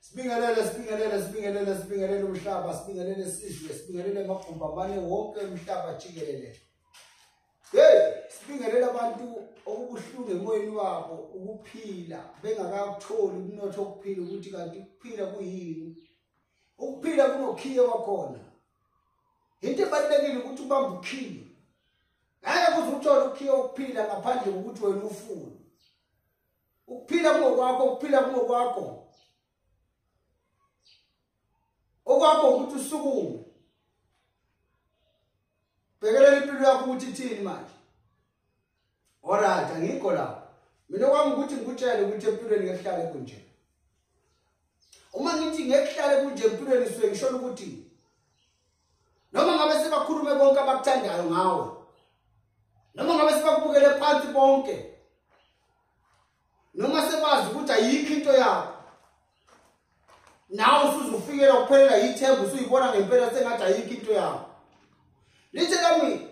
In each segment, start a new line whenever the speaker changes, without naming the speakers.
Sibingelele sibingelele sibingelele sibingelele umhlaba sibingelele isizwe sibingelele amagumbi amane wonke umhlaba jikelele. Hey sibingelele abantu okubuhlungu emoyeni wabo ukuphila bengakakutholi umnotho okuphila ukuthi kanti ukuphila kuyini. Ukuphila kunokhiye wakhona. Into ebalulekile ukuthi ubambe ukhiye. ngeke kuze uthole ukhiye ukuphila ngaphandle kokuthi wena ufune ukuphila kungokwakho ukuphila kungokwakho okwakho ukuthi usukume bhekelela impilo yakho ukuthi ithini manje alright angikho lapho mina kwami ukuthi ngikutshele ukuthi empilweni ngehlale kunje uma ngithi ngehlale kunje empilweni suke ngisholo ukuthi noma ngabe sebakhulume konke abakuthandayo ngawe noma ngabe sebakubukele phansi bonke noma sebazi ukuthi ayikho into yakho nawe usuzufikela ukuphelela yithemba usuyibona ngempela sengathi ayikho into yakho lithe kami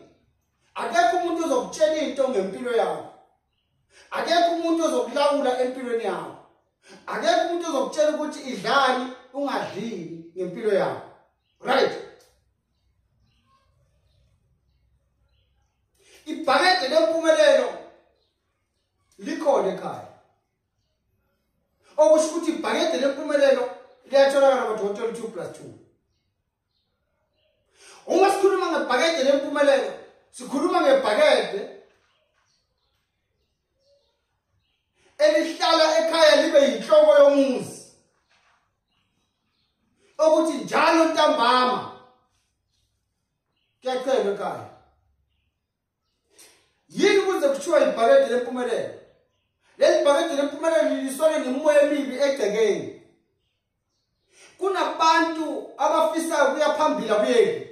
akekho umuntu ozokutshela into ngempilo yakho akekho umuntu ozokulawula empilweni yakho akekho umuntu ozokutshela ukuthi idlani ungadlini ngempilo yakho right ibhakede lempumelelo likhona ekhaya okusho ukuthi ibhakede lempumelelo liyatholakala kodokotela 2 plus 2 uma sikhuluma ngebhakede lempumelelo sikhuluma ngebhakede elihlala ekhaya libe yinhloko yomuzi okuthi njalo ntambama kuyacelwa ekhaya yini kuze kuthiwa ibhakede lempumelelo leli bhakede lempumelelo liliswane nemimoya emibi egcekeni kunabantu abafisayo kuya phambili abuyeki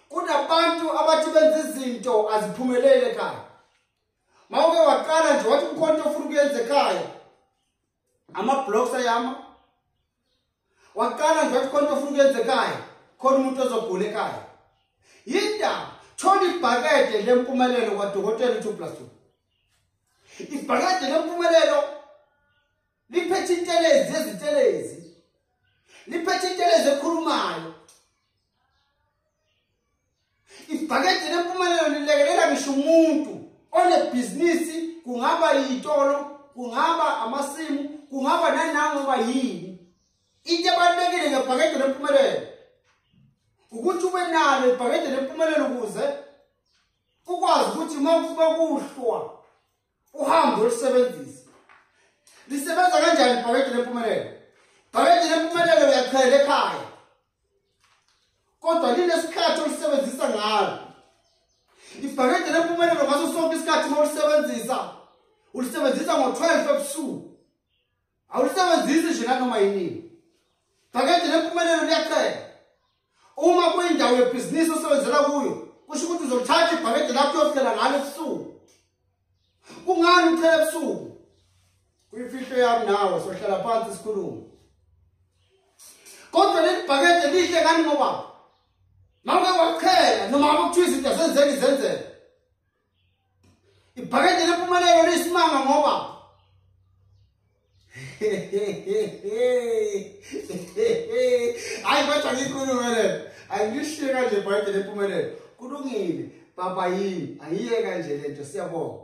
kunabantu abathi benza izinto aziphumelele ekhaya mawuke waqala nje wathi kukhona into ofuna ukuyenza ekhaya ama-blocks ayama waqala nje wathi khona ofuna ukuyenza ekhaya khona umuntu ozogula ekhaya yindaba thola ibhakede lempumelelo kwadokotela u-two plus two ibhakede lempumelelo liphethe intelezi ezintelezi liphethe intelezi ekhulumayo ibhakede lempumelelo lilekelela ngisho umuntu onebhizinisi kungaba yitolo kungaba amasimu kungaba nanangoba yini into ebalulekile ngebhakede lempumelelo ukuthi ube nalo ibhakede lempumelelo ukuze ukwazi ukuthi uma kuba kuhlwa uhambe ulisebenzise lisebenza kanjani ibhakede lempumelelo ibhakede lempumelelo uyachela ekhaya kodwa linesikhathi olisebenzisa ngalo ibhakede lempumelelo ngaso sonke isikhathi uma ulisebenzisa ulisebenzisa ngo-12 ebusuku awulisebenzisi nje nanoma yinini phakade nempumelelo liyacela uma kuyindawo yebhizinisi osebenzela kuyo kusho ukuthi uzolithatha ibhakede lakho uyohlela ngalo ebusuku kungani ucela ebusuku kuyimfihlo yami nawe sohlala phansi sikhulume kodwa leli bhakede lihle kani ngoba mawuke wakuchela noma akuthiwa izinto senzeni zenzela ibhakede lempumelelo liyisimanga ngoba hayi kodwa ngikhulume le angishiye kanje ibhakede lempumelelo kulungile baba yini angiyeka nje lento siyabonga